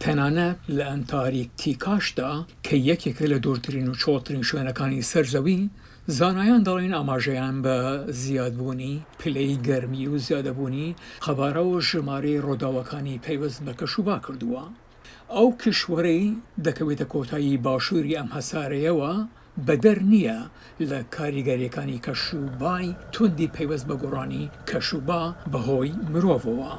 تەنانەت لە ئەنتاریکتیکاشدا کە یەکێکە لە دوورترین و چۆڵترین شوێنەکانی سەر زەوی، زانایان دەڵێن ئاماژەیان بە زیادبوونی پلەی گەرمی و زیادبوونی قەبارە و ژمارەی ڕووداوەکانی پەیوەست بە کەشوبا کردووە. ئەو کیشوەرەی دەکەوێتە کۆتایی باشووری ئەم هەسارەیەوە، بەدەر نییە لە کاریگەرییەکانی کەشوبای توندی پەیوەست بە گۆڕانی کەشوبا بەهۆی مرۆڤەوە.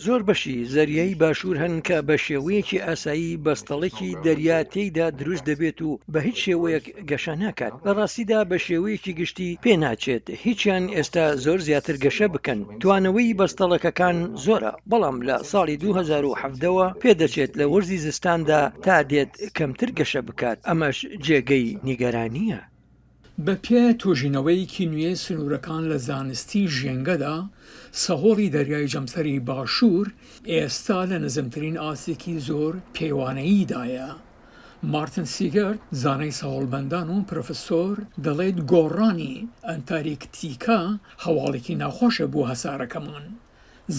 زۆر بەشی زەریای باشوور هەن کە بە شێوەیەکی ئاسایی بەستەڵەکی دەریا تێیدا دروست دەبێت و بە هیچ شێوەیەک گەشە ناکات، لە ڕاستیدا بە شێوەیەکی گشتی پێناچێت هیچیان ئێستا زۆر زیاتر گەشە بکەن، توانەوەی بەستەڵەکەکان زۆرە. بەڵام لە ساڵی دوو هەزار و حەڤدە وە پێدەچێت لە وەرزی زستاندا تا دێت کەمتر گەشە بکات، ئەمەش جێگەی نیگەرانییە. بەپێ توێژینەوەیەکی نوێ سنوورەکان لە زانستی ژێنگەدا، سەهۆڵی دەریای جەمسەری باشوور ئێستا لە نزمترین ئاستێکی زۆر پێوانەییدایە. مارتن سیگەرت، زانای سەهۆڵبەندان و پرۆفسۆر، دەڵێت گۆڕانی ئەنتاریکتیکا هەواڵێکی ناخۆشە بۆ هەسارەکەمان.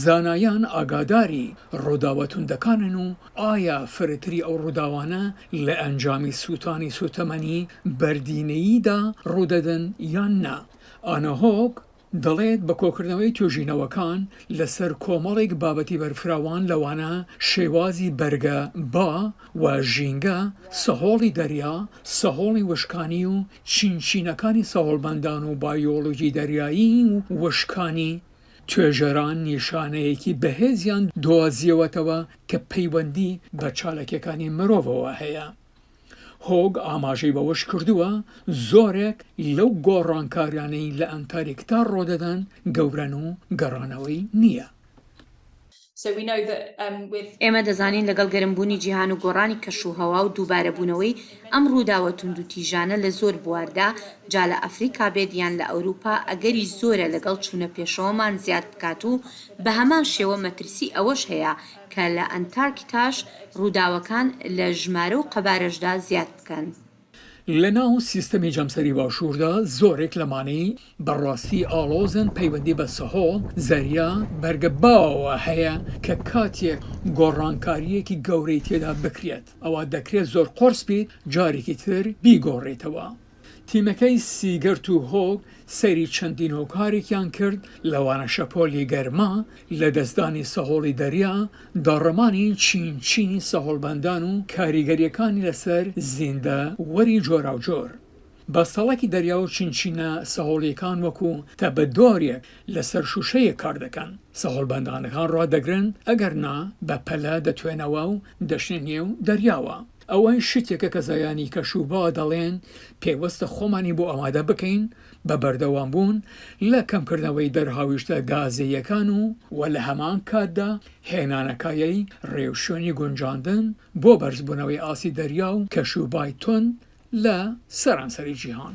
زانایان ئاگاداری ڕووداوە توندەکانن و ئایا فرەتری ئەو ڕووداوانە لە ئەنجامی سووتانی سووتەمەنی بەردینەییدا ڕوودەدەن یان نا. ئانا هۆک دەڵێت، بە کۆکردنەوەی توێژینەوەکان لەسەر کۆمەڵێک بابەتی بەرفراوان لەوانە شێوازی بەرگە، با، و ژینگە، سەهۆڵی دەریا، سەهۆڵی وشکانی و چینچینەکانی سەهۆڵبەندان و بایۆلۆجی دەریایی و وشکانی، توێژەران نیشانەیەکی بەهێزیان دۆزیەوەتەوە کە پەیوەندی بە چالاکیەکانی مرۆڤەوە هەیە. هۆگ ئاماژەی بەوەش کردووە، زۆرێک لەو گۆڕانکاریانەی لە ئەنتاریکتا ڕۆدەدەن گەورەن و گەڕانەوەی نییە. ئێمە دەزانین لەگەڵ گەرمبوونی جیهان و گۆڕانی کەشوهەوا و دووبارەبوونەوەی ئەم ڕووداوە توندوتیژانە لە زۆر بواردا، جا لە ئەفریقا بێت یان لە ئەوروپا، ئەگەری زۆرە لەگەڵ چوونە پێشەوەمان زیاد بکات و بەهەمان شێوە مەترسی ئەوەش هەیە کە لە ئەنتارکتاش ڕووداوەکان لە ژمارە و قەبارەشدا زیاد بکەن. لەناو سیستەمی جەمسەری باشووردا زۆرێک لەمانەی بە ڕاستی ئاڵۆزن پەیوەندی بە سەهۆ، زەریا، بەرگە باوەوە هەیە کە کاتێک گۆڕانکارییەکی گەورەی تێدا بکرێت ئەوا دەکرێت زۆر قۆرس بیت جارێکی تر بیگۆڕیتەوە. تیمەکەی سیگەرت و هۆگ سەیری چەندین هۆکارێکیان کرد لەوانە شەپۆلی گەرما لەدەستدانی سەهۆڵی دەریا، داڕمانی چین چینی سەهۆڵبەندان و کاریگەرییەکانی لەسەر زیندە وەری جۆراوجۆر. بەستەڵەکی دەریا و چین چینە سەهۆڵییەکان وەکو تەبەدۆرێک لەسەر شووشەیەک کاردەکەن، سەهۆڵبەندانەکان ڕادەگرن ئەگەرنا بەپەلە دەتوێنەوە و دەچنە نێو دەریاوە. ئەوە شتێکە کە زایانی کەشوبا دەڵێن پێوستە خۆمانی بۆ ئامادە بکەین بە بەردەوامبوون لە کەمکردنەوەی دەرهاویشتە گازییەکان و و لە هەمان کاتدا هێنانەکایەی ڕێوشوێنی گونجاندن بۆ بەرزبوونەوەی ئاستی دەریا و کەشوبای توند لە سەرانسەری جیهان.